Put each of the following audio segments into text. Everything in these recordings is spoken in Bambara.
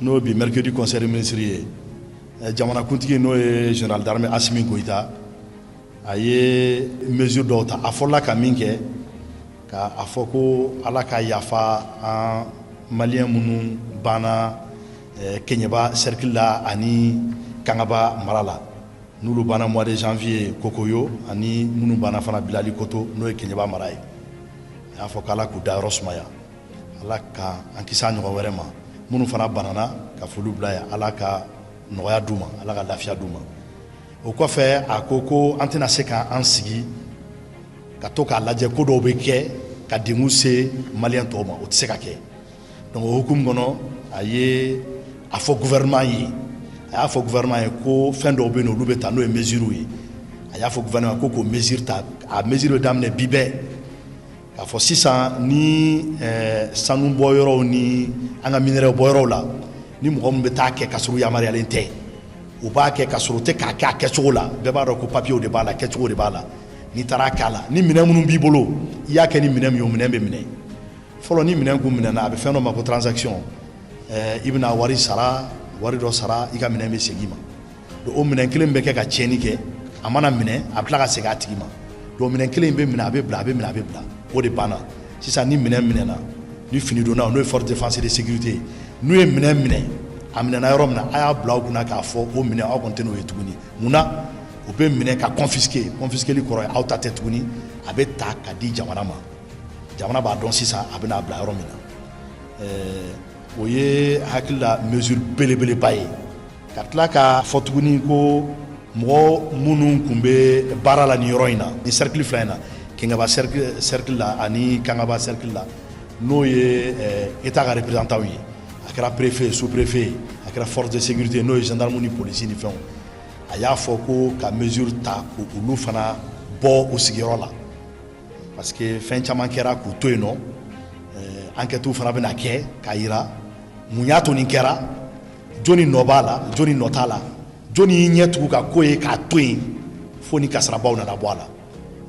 n'o bi mercredi conseil des ministres ye eh, jamanakuntigi n'o ye général d'armée Assimi Goïta a ye mesure dɔw ta a fɔla ka min kɛ k' a fɔ ko ala ka yafa an maliyɛn minnu banna eh, keɲɛba cercle la ani kangaba mara la n'olu banna mois de janvier kokoyo ani minnu banna fana bilali koto n'o ye keɲɛba mara ye a y'a fɔ k' ala k'u dayɔrɔ sumaya Ala ka an kisi a ɲɔgɔn wɛrɛ ma minnu fana banana ka foli bila yan Ala ka nɔgɔya d'u ma Ala ka lafiya d'u ma o kɔfɛ a ko ko an tɛna se ka an sigi ka to k'a lajɛ ko dɔw bɛ kɛ ka dengun se maliyɛn tɔw ma o tɛ se ka kɛ donc o hukumu kɔnɔ a ye a fɔ gouvernement ye a y'a fɔ gouvernement ye ko fɛn dɔw bɛ yen olu bɛ ta n'o ye mesures ye a y'a fɔ gouvernement ko k'o mesure ta a mesure bɛ daminɛ bi bɛɛ A fɔ sisan ni sanu bɔyɔrɔw ni an ka minerai bɔyɔrɔw la ni mɔgɔ minnu bɛ taa kɛ ka sɔrɔ yamaruyalen tɛ u b'a kɛ ka sɔrɔ u tɛ k'a kɛ a kɛcogo la bɛɛ b'a dɔn ko papiyew de b'a la kɛcogo de b'a la n'i taara k'a la ni minɛn minnu b'i bolo i y'a kɛ ni minɛ min ye o minɛn bɛ minɛ fɔlɔ ni minɛn kun minɛna a bɛ fɛn dɔ ma ko transaction i bɛna wari sara wari dɔ sara i ka minɛn bɛ segin i ma donc o minɛn kelen bɛ kɛ ka tiɲɛni kɛ a mana minɛ a bɛ tila ka segin a tigi ma donc minɛn kelen in bɛ minɛ a bɛ bila a bɛ minɛ a bɛ bila o de banna sisan ni minɛn minɛna ni finidonna n'o ye force de défense et de sécurité ye n'u ye minɛn minɛ a minɛna yɔrɔ min na a y'a bila aw kunna k'a fɔ o minɛn aw kɔni tɛn'o ye tuguni mun na o bɛ minɛ ka confisquer confisqueli kɔrɔ ye aw ta tɛ tuguni a bɛ ta ka di jamana ma jamana b'a dɔn sisan a bɛna a bila yɔrɔ min na ɛɛ o ye hakili la mesure belebeleba ye ka tila k'a fɔ tuguni ko mɔgɔ minnu tun bɛ baara la nin yɔrɔ in na ni cercle fila in na keɲɛba cercle la ani kangaba cercle la n'o ye État ka représentant ye a kɛra préfet ye sous préfet ye a kɛra force de sécurité n'o ye gendarme ni police ni fɛnw a y'a fɔ ko ka mesure ta ko olu fana bɔ u sigiyɔrɔ la parce que fɛn caman kɛra k'u to yen nɔ enquêtes fana bɛna kɛ k'a yira mun y'a to nin kɛra jɔni nɔ b'a la jɔni nɔ t'a la jɔni y'i ɲɛ tugu ka ko ye k'a to yen fo ni kasarabaw nana bɔ a la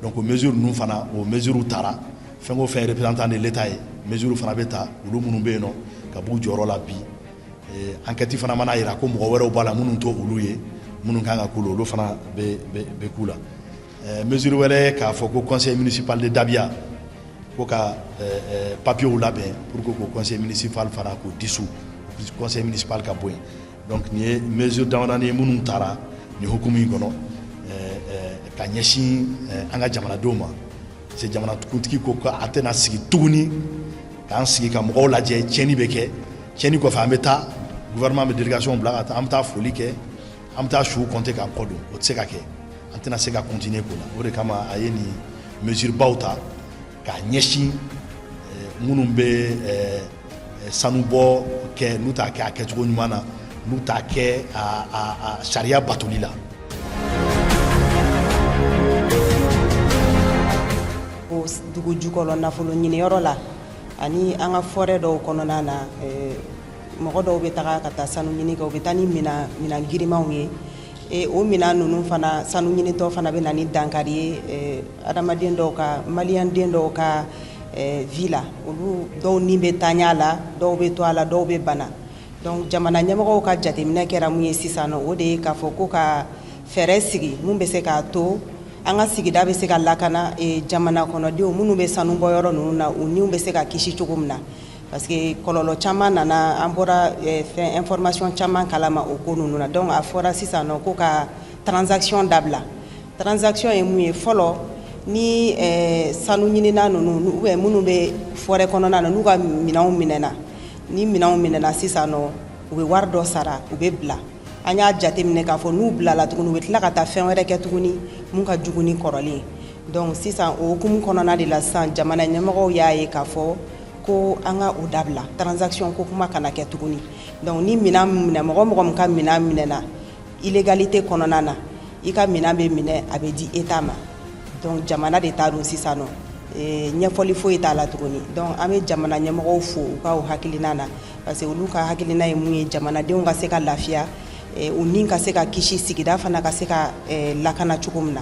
donc o mesure ninnu fana o mesure tara fɛn o fɛn représentant de l'État ye mesure fana bɛ ta olu minnu bɛ yen nɔ ka b'u jɔyɔrɔ la bi eh, enquête fana mana yira ko mɔgɔ wɛrɛw b'a la minnu t'o olu ye minnu kan ka k'u la olu fana bɛ bɛ bɛ k'u la eh, mesure wɛrɛ k'a fɔ ko conseil municipal de Dabia ko ka eh, eh, papiyew labɛn pour que k'o conseil municipal fana k'o dissous conseil municipal ka bɔ yen donc nin ye mesure damadani ye minnu taara nin hukumu in kɔnɔ ka ɲɛsin an ka jamanadenw ma parce que jamanakuntigi ko a tɛna sigi tuguni k'an sigi ka mɔgɔw lajɛ tiɲɛni bɛ kɛ tiɲɛni kɔfɛ an bɛ taa gouvernement bɛ délégation bila ka taa an bɛ taa foli kɛ An bɛ taa su compter k'an kɔ don o tɛ se ka kɛ an tɛna se ka continuer ko la o de kama a ye nin mesure baw ta k'a ɲɛsin minnu bɛ sanubɔ kɛ n'u t'a kɛ a kɛcogo ɲuman na n'u t'a kɛ sariya batoli la o dugu jukɔrɔ nafolo ɲiniyɔrɔ la ani an ka forêt dɔw kɔnɔna na mɔgɔ dɔw bɛ taga ka taa sanu ɲini kɛ u bɛ taa ni minɛn girimanw ye e, o minɛn ninnu fana sanu ɲinitɔ fana bɛ na ni dankari ye e, adamaden dɔw ka maliyɛnden dɔw ka e, vie la olu dɔw ni bɛ tanya la dɔw bɛ to a la dɔw bɛ bana donc jamana ɲɛmɔgɔw ka jateminɛ kɛra mun ye sisan nɔ o de ye k'a fɔ ko ka fɛɛrɛ sigi mun bɛ se k'a to an ka sigida bɛ se ka lakana jamana kɔnɔdenw minnu bɛ sanu bɔ yɔrɔ ninnu na u niw bɛ se ka kisi cogo min na parce que kɔlɔlɔ caman nana an bɔra eh, fɛn information caman kalama o ko ninnu na donc a fɔra sisan nɔ ko ka transaction dabila transaction ye mun ye fɔlɔ ni eh, sanu ɲinina ninnu ou bien minnu bɛ forêt kɔnɔna na n'u ka minɛnw minɛna ni minɛnw minɛna sisan nɔ u bɛ wari dɔ sara u bɛ bila an y'a jateminɛ k'a fɔ n'u bilala tuguni u bɛ tila ka taa fɛn wɛrɛ kɛ tuguni mun ka jugu ni kɔrɔlen donc sisan o hukumu kɔnɔna de la sisan jamana ɲɛmɔgɔw y'a ye k'a fɔ ko an ka o dabila transaction ko kuma kana kɛ tuguni donc ni minɛn minɛ mɔgɔ mɔgɔ min ka minɛn minɛna illégalité kɔnɔna na i ka minɛn bɛ minɛ a bɛ di état ma donc jamana de ta don sisan nɔ eh, ɲɛfɔli foyi t'a la tuguni donc an bɛ jamana ɲɛmɔgɔw fo u ka o hakilina na parce que olu ka hakilina ye mun ye jamanadenw ka se ka lafiya eh, u ni ka se ka kisi sigida fana ka se ka eh, lakana cogo min na